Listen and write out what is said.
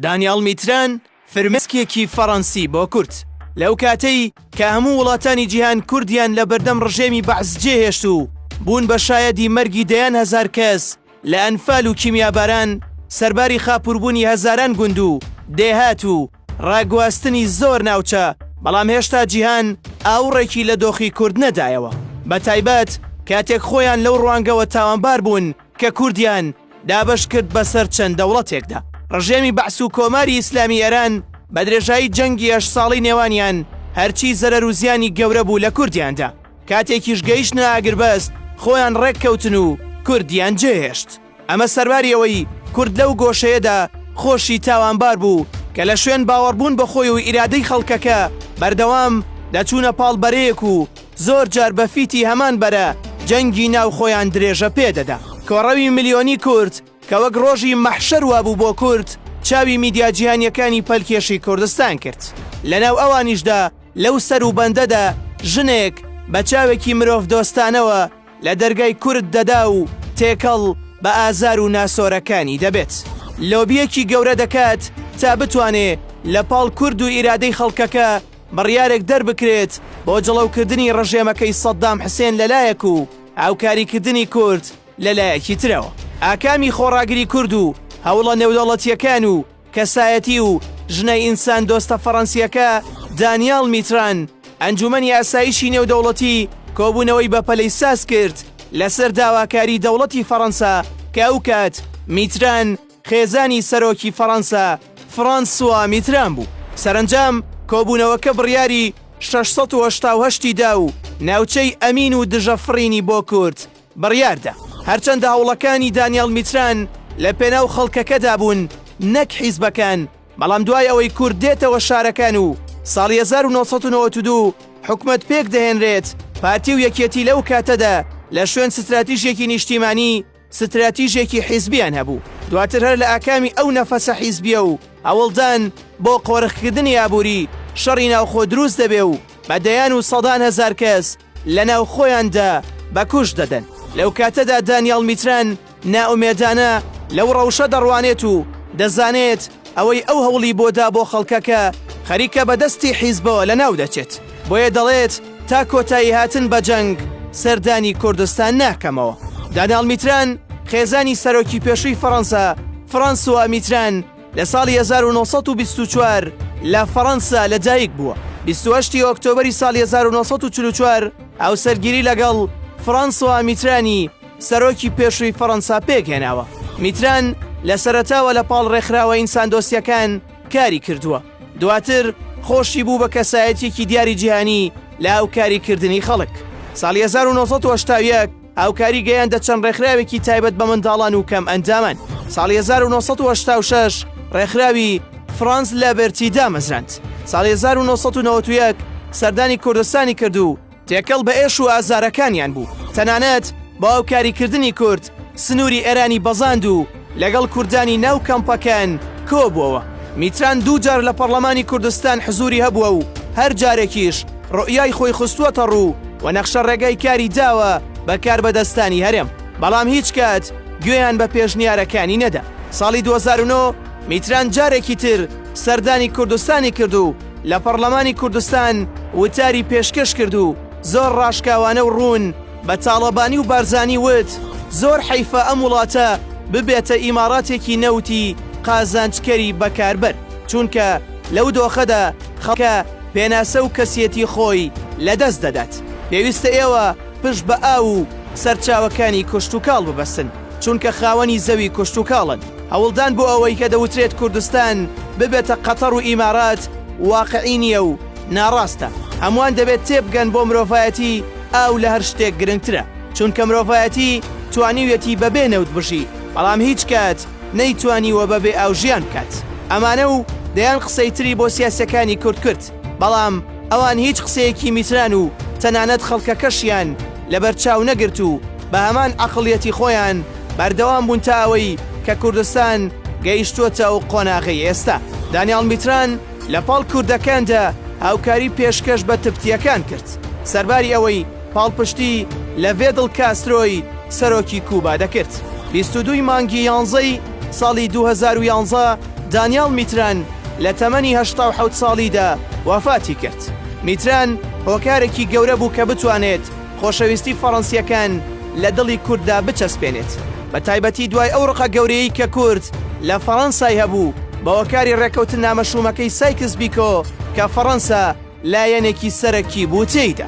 دانیاڵ میتران، فرمێسکێکی فەڕەنسی بۆ کورد، لەو کاتەی کە هەموو وڵاتانی جیهان کوردیان لە بەردەم ڕژێمی بەعس جێهێشت و بوون بە شایەدی مەرگی دەیان هەزار کەس لە ئەنفال و کیمیاباران، سەرباری خاپووربوونی هەزاران گوند و دێهات و ڕاگواستنی زۆر ناوچە، بەڵام هێشتا جیهان ئاوڕێکی لە دۆخی کورد نەدایەوە، بەتایبەت کاتێک خۆیان لەو ڕوانگەوە تاوانبار بوون، کە کوردیان دابەش کرد بەسەر چەند دەوڵەتێکدا. ڕژێمی بەعس و کۆماری ئیسلامی ئێران بە درێژایی جەنگی هەشت ساڵی نێوانیان هەرچی زەرەر و زیانی گەورە بوو لە کوردیان دا. کاتێکیش گەیشتنە ئاگربەست خۆیان ڕێک کەوتن و کوردیان جێ هێشت. ئەمە سەرباری ئەوەی کورد لەو گۆشەیەدا خۆشی تاوانبار بوو کە لە شوێن باوەڕبوون بە خۆی و ئیرادەی خەڵکەکە بەردەوام دەچوونە پاڵ بەرەیەک و زۆر جار بە فیتی هەمان بەرە جەنگی ناو خۆیان درێژە پێ دەدا. کۆڕەوی ملیۆنی کورد کە وەک ڕۆژی مەحشەر وابوو بۆ کورد، چاوی میدیا جیهانیەکانی پەلکێشی کوردستان کرد. لە ناو ئەوانیشدا لەو سەروبەندەدا ژنێک بە چاوێکی مرۆڤ دۆستانەوە، لە دەرگای کورد دەدا و تێکەڵ بە ئازار و ناسۆرەکانی دەبێت. لۆبییەکی گەورە دەکات تا بتوانێ لە پاڵ کورد و ئیرادەی خەڵکەکە بڕیارێک دەربکرێت بۆ جڵەوکردنی ڕژێمەکەی سەددام حسێن لە لایەک و هاوکاریکردنی کورد لە لایەکی ترەوە. ئاکامی خۆڕاگری کورد و هەوڵە نێودەوڵەتییەکان و کەسایەتی و ژنە ئینساندۆستە فەڕەنسییەکە دانیال میتران ئەنجوومەنی ئاسایشی نێودەوڵەتی کۆبوونەوەی بەپەلەی ساز کرد لەسەر داواکاری دەوڵەتی فەڕەنسا کە ئەو کات میتران خێزانی سەرۆکی فەڕەنسا فرانسوا میتران بوو. سەرەنجام کۆبوونەوەکە بڕیاری شەش سەد و هەشتا و هەشت ی دا و ناوچەی ئەمین و دژە فڕینی بۆ کورد بڕیاردا، هەرچەندە هەوڵەکانی دانیاڵ میتران لە پێناو خەڵکەکەدا بوون نەک حیزبەکان، بەڵام دوای ئەوەی کورد دێتەوە شارەکان و ساڵی هەزار و نۆ سەد و نەوەد و دوو حکومەت پێک دەهێنرێت، پارتی و یەکێتی لەو کاتەدا لە شوێن ستراتیژێکی نیشتیمانی ستراتیژێکی حیزبیان هەبوو، دواتر هەر لە ئاکامی ئەو نەفەسە حیزبیە و هەوڵدان بۆ قۆرخکردنی ئابووری، شەڕی ناوخۆ دروست دەبێ و بە دەیان و سەدان هەزار کەس لە ناوخۆیاندا بە کوشت دەدەن. لەو کاتەدا دانیاڵ میتران نائومێدانە لەو ڕەوشە دەڕوانێت و دەزانێت ئەوەی ئەو هەوڵی بۆ دا بۆ خەڵکەکە خەریکە بە دەستی حیزبەوە لە ناو دەچێت، بۆیە دەڵێت تا کۆتایی هاتن بە جەنگ سەردانی کوردستان ناکەمەوە. دانیاڵ میتران خێزانی سەرۆکی پێشووی فەڕەنسا فرانسوا میتران، لە ساڵی هەزار و نۆ سەد و بیست و چوار لە فەڕەنسا لە دایک بووە. بیست و هەشت ی ئۆکتۆبەری ساڵی هەزار و نۆ سەد و چل و چوار هاوسەرگیری لەگەڵ فرانسوا میترانی سەرۆکی پێشووی فەڕەنسا پێکهێناوە. میتران لە سەرەتاوە لە پاڵ ڕێکخراوە ئینساندۆستییەکان کاری کردووە، دواتر خۆشی بوو بە کەسایەتییەکی دیاری جیهانی لە هاوکاریکردنی خەڵک. ساڵی هەزار و نۆ سەد و هەشتا و یەک هاوکاری گەیاندە چەند ڕێکخراوێکی تایبەت بە منداڵان و کەم ئەندامان ساڵی 1986 ڕێکخراوی فرانز لەبەرتی دامەزراند ساڵی 1991 سەردانی کوردستانی کرد و تێکەڵ بە ئێش و ئازارەکانیان بوو تەنانەت باوکاریکردنی کورد سنووری ئێرانی بەزاند و لەگەڵ کوردانی ناو کەمپەکەن کۆبووەوە. میتران دوو جار لە پەڕڵەمانی کوردستان حزووری هەبووە و هەر جارێکیش روئیای خۆی خستووەتە روو و نەخشە رێگای کاری داوە بە کاربەدەستانی هەرێم، بەڵام هیچ کات گوێیان بە پێشنیارەکانی نەدا. ساڵی دوو هەزار و نۆ میتران جارێکی تر سەردانی کوردستانی کرد و لە پەڕڵەمانی کوردستان وتاری پێشکەش کرد و زۆر راشکاوانە و روون، بە تاڵەبانی و بارزانی وت، زۆر حەیفە ئەم وڵاتە ببێتە ئیماڕاتێکی نەوتی قازانجکەری بەکاربەر، چونکە لەو دۆخەدا خەڵکە پێناسە و کەسیەتی خۆی لەدەست دەدات. پێویستە ئێوە پشت بە ئاو و سەرچاوەکانی کشتوکاڵ ببەستن، چونکە خاوەنی زەوی کشتوکاڵن. هەوڵدان بۆ ئەوەی کە دەوترێت کوردستان ببێتە قەتەڕ و ئیمارات واقعی نییە و، ناڕاستە هەموان دەبێت تێبگەن بۆ مرۆڤایەتی ئاو لە هەر شتێک گرنگترە چونکە مرۆڤایەتی توانیویەتی بەبێ نەوت بژی بەڵام هیچ کات نەیتوانیوە بەبێ ئاو ژیان بکات ئەمانە و دەیان قسەی تری بۆ سیاسەکانی کورد کرد بەڵام ئەوان هیچ قسەیەکی میتران و تەنانەت خەڵکەکەشیان لەبەر چاو نەگرت و بە هەمان عەقڵیەتی خۆیان بەردەوام بوون تا ئەوەی کە کوردستان گەیشتووەتە ئەو قۆناغەی ئێستا دانیاڵ میتران لە پاڵ کوردەکاندا هاوکاری پێشکەش بە تبتیەکان کرد، سەرباری ئەوەی پاڵپشتی لە ڤێدڵ کاسترۆی سەرۆکی کوبا دەکرد. بیست و دوو ی مانگی یانزەی ساڵی دوو هەزار و یانزە دانیاڵ میتران لە تەمەنی هەشتا و حەوت ساڵیدا وەفاتی کرد. میتران هۆکارێکی گەورە بوو کە بتوانێت، خۆشەویستی فەڕەنسییەکان لە دڵی کورددا بچەسپێنێت، بە تایبەتی دوای ئەو ڕقە گەورەیەی کە کورد لە فەڕەنسای هەبوو بە هۆکاری ڕێککەوتننامە شوومەکەی سایکس بیکۆ کە فەڕەنسا لایەنێکی سەرەکی بوو تێیدا.